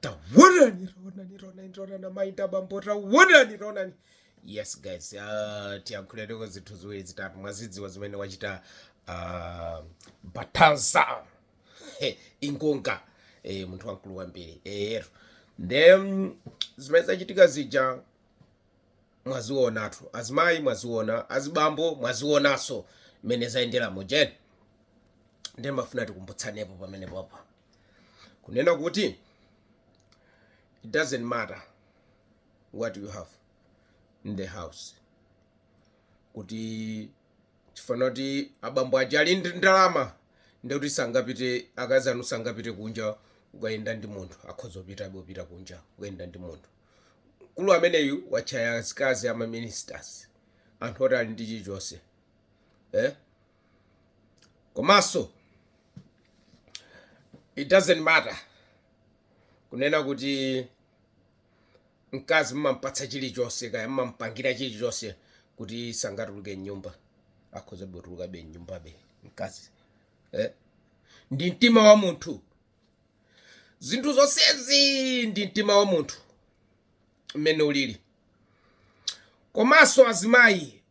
tawonani ronani ronani ronani amainda bambo tawonani ronani yes guys uh, tiyankhulereko zinthu ziwiri zitatu mwazidziwa zimene wachita uh, Baltasar He, Engonga eh, munthu wamkulu wambiri eyero nde mm, zimene zachitika zija mwazionatu azimayi mwaziona azibambo mwazionanso mmene zayendera mujeni ndimafuna tikumbutsanepo pamene popo kunena kuti it doesn't matter what you have in the house kuti chifana kuti abambo aja ali ndi ndalama ndikuti sangapite akazi anu sangapite kunja kukayenda ndi munthu akhoza kupita bopita kunja kukayenda ndi munthu mkulu ameneyu watchaya azikazi ama ministers anthu oti ali ndi chilichonse eh? komanso it doesn't matter kunena kuti mkazi mmampatsa chilichonse kaya mmampangira chilichonse kuti sangatuluke mnyumba akhoza botulukabe mnyumbabe mkazi eh? ndi mtima wa munthu zinthu zonsezi ndi mtima wa munthu mmene ulili komanso azimayi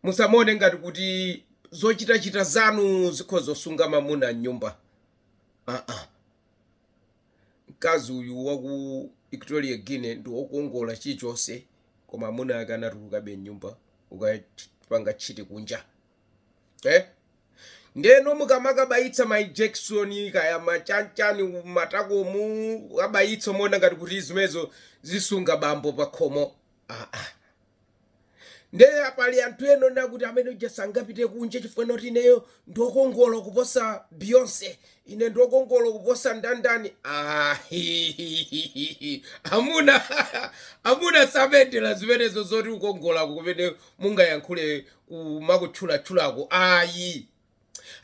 Musamaone ngati kuti zochitachita zanu zikhoza kusunga mwamuna m'nyumba. Aa. Mkazi uyu wa ku Equatorial Guinea ndi wokongola chilichonse koma amuna ake anatulukabe m'nyumba kukapanga tchiti kunja. Eh? Ndeno mukamakabayitsa ma injection kaya machanchani m'matakomu kukabayitsa muona ngati kuti zimenezo zisunga bambo pakhomo. Aa. Nde pali anthu ena onena kuti amene uja sangapite kunja chifukwa choti ineyo ndiokongola kuposa Beyonce, ine ndiokongola kuposa ndandani ahihihihi amuna amuna samendela zimenezo zoti ukongola kumene mungayankhule kumakutchulatchulako ayi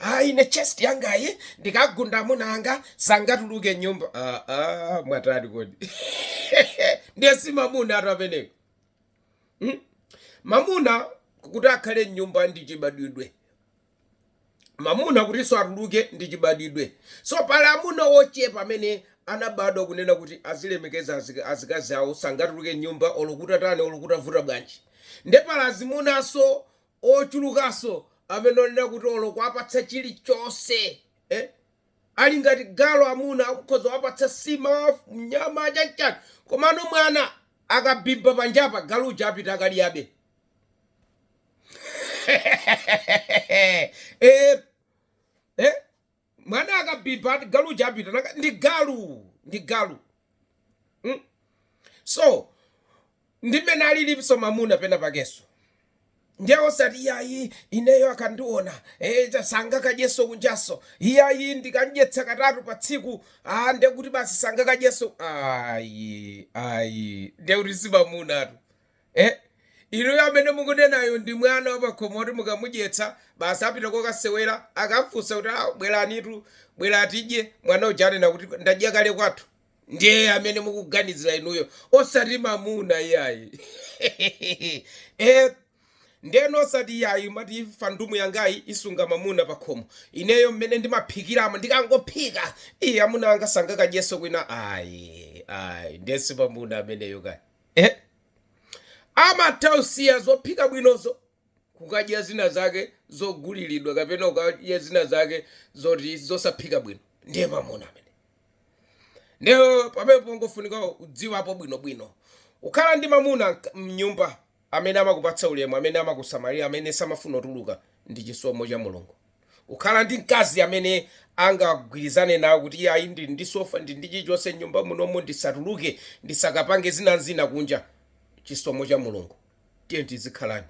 ayi ine chest yangayi ndikagunda amuna anga sangatuluke nyumba ah, ah, mwatani kodi ndiye simamunatu ameneyo Hmm? Mamuna kuti akhale mnyumba ndi chibadwidwe. Mamuna kutinso atuluke ndi chibadwidwe. So pali amuna wochepa amene anabadwa kunena kuti azilemekeza azikazi awo sangatuluke mnyumba olo kutatani olo kutavuta bwanji. Nde pali azimunanso ochulukanso amene onena kuti olo kuwapatsa chilichonse. Eh? Ali ngati galu amuna ukhoza kuwapatsa sima nyama chanchani komano mwana akabhibha panjapa galu uja apita akadyabe eh, eh, mwana akabhibha ati galu uja apita ndi galu ndi galu Mm? so ndi mmene aliliso mamuna pena pakeso ndiye osati iyayi ineyo akandiona eh, cha- sangakadyeso kunjaso iyayi ndikamdyetsa katatu pa tsiku ah, ndiye kuti basi sangakadyeso ayi ayi ndiye kuti si mamunatu Eh? Inuyo amene mukunenayo ndi mwana wapakhomo oti mukamudyetsa basi apita kokasewera akamfunsa kuti awo bweranitu bwera tidye mwana uja anena kuti ndadya kale kwathu ndiye amene mukuganizira inuyo osati mamuna iyayi eh? ndeno osati iyayi matifandumu yangayi isunga mamuna pakhomo ineyo mmene ndimaphikiramo ndikangophika iye amuna anga sangakadyenso kwina ayi ayi ndesi mamuna ameneyo kaya eh? amatha kusiya zophika bwinozo kukadya zina zake zogulilidwa kapena kukadya zina zake zoti zosaphika bwino ndiye mamuna amene ndiye pamene pangofunika kudziwapo bwinobwino kukhala ndi mamuna mk- mnyumba amene amakupatsa ulemu amene amakusamalira amene samafuna kutuluka ndi chisomo cha mulungu Kukhala ndi mkazi amene angagwirizane nawe kuti iyayi ndili ndi sofa ndili ndi chilichonse mnyumba munomo ndisatuluke ndisakapange zina ndi zina kunja chisomo cha Mulungu tiye tizikhalani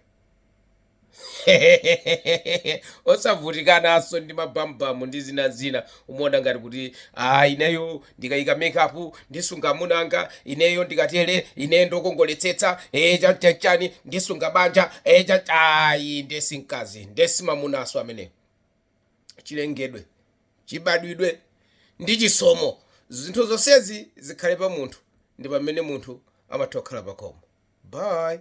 osavutikanaso ndi ma bam bam ndi zina ndi zina umaona ngati kuti aa ineyo ndikayika makeup ndisunga amuna anga ineyo ndikatere ineyo ndokongoletsetsa ee chanchani ndisunga banja ee cha ayi ndesi mkazi ndesi mamunaso ameneyo chilengedwe chibadwidwe ndi chisomo zinthu zonsezi zikhale pa munthu ndi pamene munthu amatha kukhala pakhomo bye